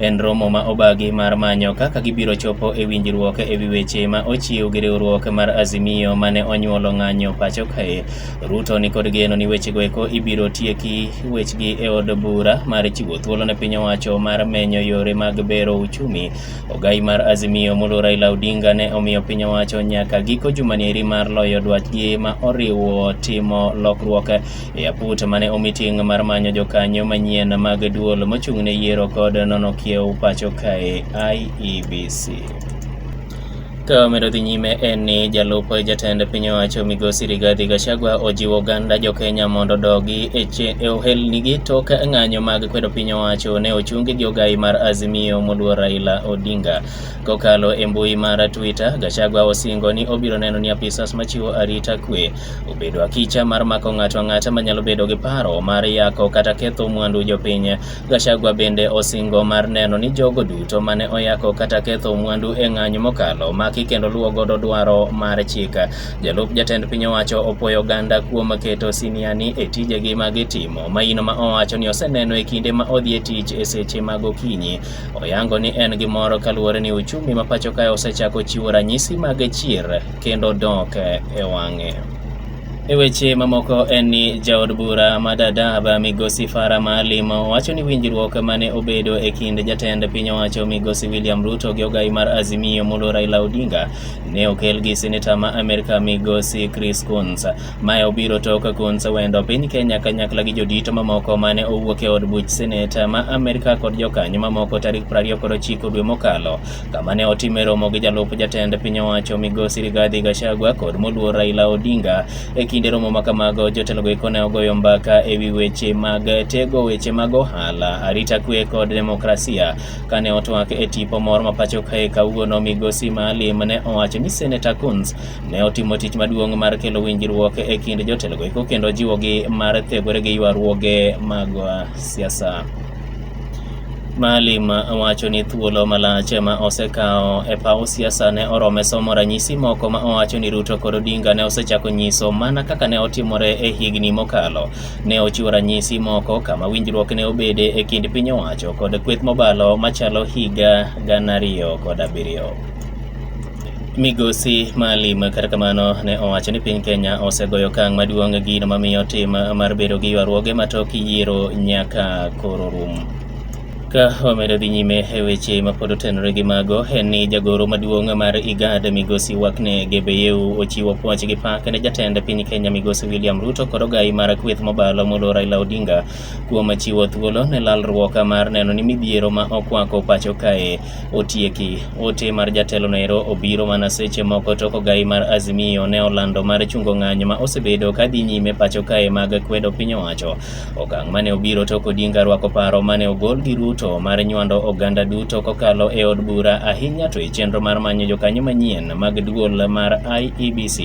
En romo ma obagi mar manyo kaka gibiro chopo e winjruok e wi weche ma ochiw gi riwruok mar Azimio mane onyuolo ng'anyo pacho kae. Ruto ni kod geno ni wechego eko ibiro tieki wechgi e od bura mar chiwo thuolo ne piny owacho mar menyo yore mag bero uchumi. Ogai mar Azimio mulo Raila Odinga ne omiyo piny owacho nyaka giko jumani eri mar loyo dwachgi ma oriwo timo lokruok e aput mane omiting mar manyo jokanyo manyien mag duol mochung'ne yiero kod nono kiew pacho kae IEBC. Ka medo dhi nyime en ni jalup jatend piny owacho migosi Rigathi Gachagua ojiwo oganda jo Kenya mondo odogi e, e ohelnigi tok ng'anyo mag kwedo piny owacho ne ochungi gi ogai mar Azimio moluor Raila Odinga. Kokalo e mbui mar Twitter, Gachagua osingo ni obiro neno ni apisas machiwo arita kwe obedo akicha mar mako ng'ato ang'ata manyalo bedo gi paro mar yako kata ketho mwandu jopiny. Gachagua bende osingo mar neno ni jogo duto mane oyako kata ketho mwandu e ng'anyo mokalo maki kendo luwo godo dwaro mar chik. Jalup jatend piny owacho opwoyo oganda kuom keto siniani e tijegi ma gitimo maino ma owacho ni oseneno e kinde ma odhi e tich e seche mag okinyi. Oyango ni en gi mor kaluwore ni uchumi ma pacho kae osechako chiwo ranyisi mag chier kendo dok e wang'e. E weche mamoko en ni jaod bura ma Dadaab Migosi Farah Maalim wacho ni winjruok mane obedo e kind jatend piny owacho Migosi William Ruto gi ogai mar Azimio molo Raila Odinga ne okel gi seneta ma Amerka Migosi Chris Coons. Mae obiro tok Coons wendo piny Kenya kanyakla gi jodito mamoko mane owuok e od buch seneta ma Amerka kod jokanyo mamoko tarik 29 dwe mokalo kama ne otime romo gi jalup jatend piny owacho migosi Rigathi Gachagua kod moluor Raila Odinga. E kinde romo ma kamago, jotelogo eko ne ogoyo mbaka e wi weche mag tego weche mag ohala, arita kwe kod demokrasia. Kane otwak e tipo moro ma pacho kae kawuono, migosi Maalim ne owacho ni Senator Coons ne otimo tich maduong' mar kelo winjruok e kind jotelogo eko kendo jiwogi mar thegore gi ywaruoge mag siasa. Maalim wacho ni thuolo malach ma osekawo e paw siasa ne orome somo ranyisi moko ma owacho ni Ruto kod Odinga ne osechako nyiso mana kaka ne otimore e higni mokalo. Ne ochiwo ranyisi moko kama winjruok ne obede e kind piny owacho kod kweth mobalo machalo higa gana ariyo kod abiriyo. Migosi Maalim kata kamano ne owacho ni piny Kenya osegoyo okang' maduong' gino mamiyo tim mar bedo gi ywaruoge matok yiero nyaka koro rum. Ka wamedo dhi nyime e weche mapod otenore gi mago en ni jagoro maduong' mar IGAD migosi Wakne Gebeyehu ochiwo puoch gi pak ne jatend piny Kenya migosi William Ruto kod ogayi mar kweth mobalo molo Raila Odinga kuom chiwo thuolo ne lalruok mar neno ni midhiero ma okwako pacho kae otieki. Ote mar jatelo noero obiro mana seche moko tok ogai mar Azimio ne olando mar chungo ng'anyo ma osebedo ka dhi nyime pacho kae mag kwedo piny owacho. Okang' mane obiro tok Odinga rwako paro mane ogol gi Ruto mar nywando oganda duto kokalo e od bura ahinya to e chenro mar manyo jokanyo manyien mag duol mar IEBC.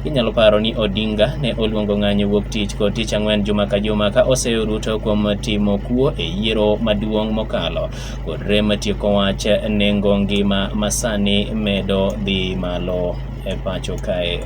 Inyalo paro ni Odinga ne oluongo ng'anyo wuok tich kod tich ang'wen juma ka juma ka oseyo Ruto kuom timo kuo e yiero maduong' mokalo. kod rem tieko wach nengo ngima masani medo dhi malo e pacho kae.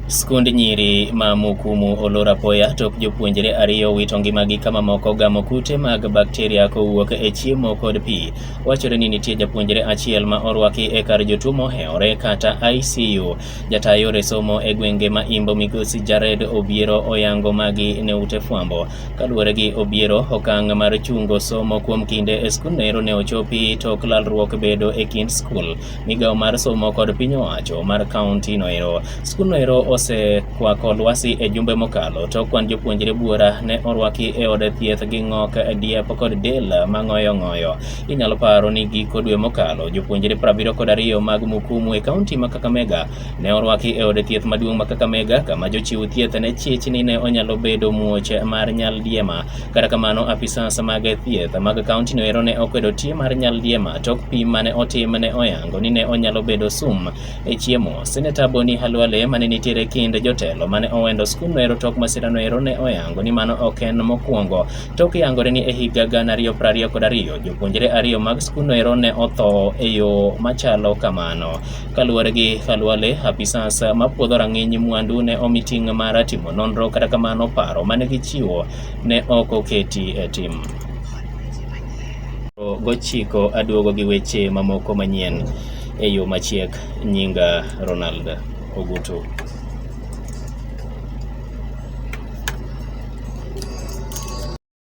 Skund nyiri ma Mukumu olor apoya tok jopuonjre ariyo wito ngimagi ka mamoko gamo kute mag bakteria kowuok e chiemo kod pi. Wachore ni nitie japuonjre achiel ma orwaki e kar jotuo mohewore kata ICU. Jataa yore somo e gwenge ma Imbo Migosi Jared Obiero oyango magi ne ute fwambo. Kaluwore gi Obiero, okang' mar chungo somo kuom kinde e skundno ero ne ochopi tok lalruok bedo e kind skul, migawo mar somo kod piny owacho mar kaunti no ero. Skundno ero osekwako lwasi e jumbe mokalo tok kwan jopuonjre buora ne orwaki e od thieth gi ng'ok, diep kod del mang'oyo ng'oyo. Inyalo paro ni giko dwe mokalo, jopuonjre 72 mag Mukumu e kaunti ma Kakamega Ne orwaki e od thieth maduong' ma Kakamega kama jochiw thieth ne chich ni ne onyalo bedo muoch mar nyaldiema. Kata kamano, apisas mag thieth mag kaunti no ero ne okwedo tie mar nyaldiema tok pim mane otim ne oyango ni ne onyalo bedo sum e chiemo. Seneta Boni Halwale mane nitiere kind jotelo mane owendo skul no ero tok masira no ero ne oyango ni mano ok en mokwongo. Tok yangore ni e higa gana ariyo prariyo kod ariyo jopuonjre ariyo mag skul no ero ne otho e yo machalo kamano. Kaluwore gi Khalwale, apisas ma puodho rang'iny mwandu ne omi ting' mar timo nonro, kata kamano paro ma ne gichiwo ne ok oketi e tim gochiko aduogo gi weche mamoko manyien e yo machiek nyinga Ronald Ogutu.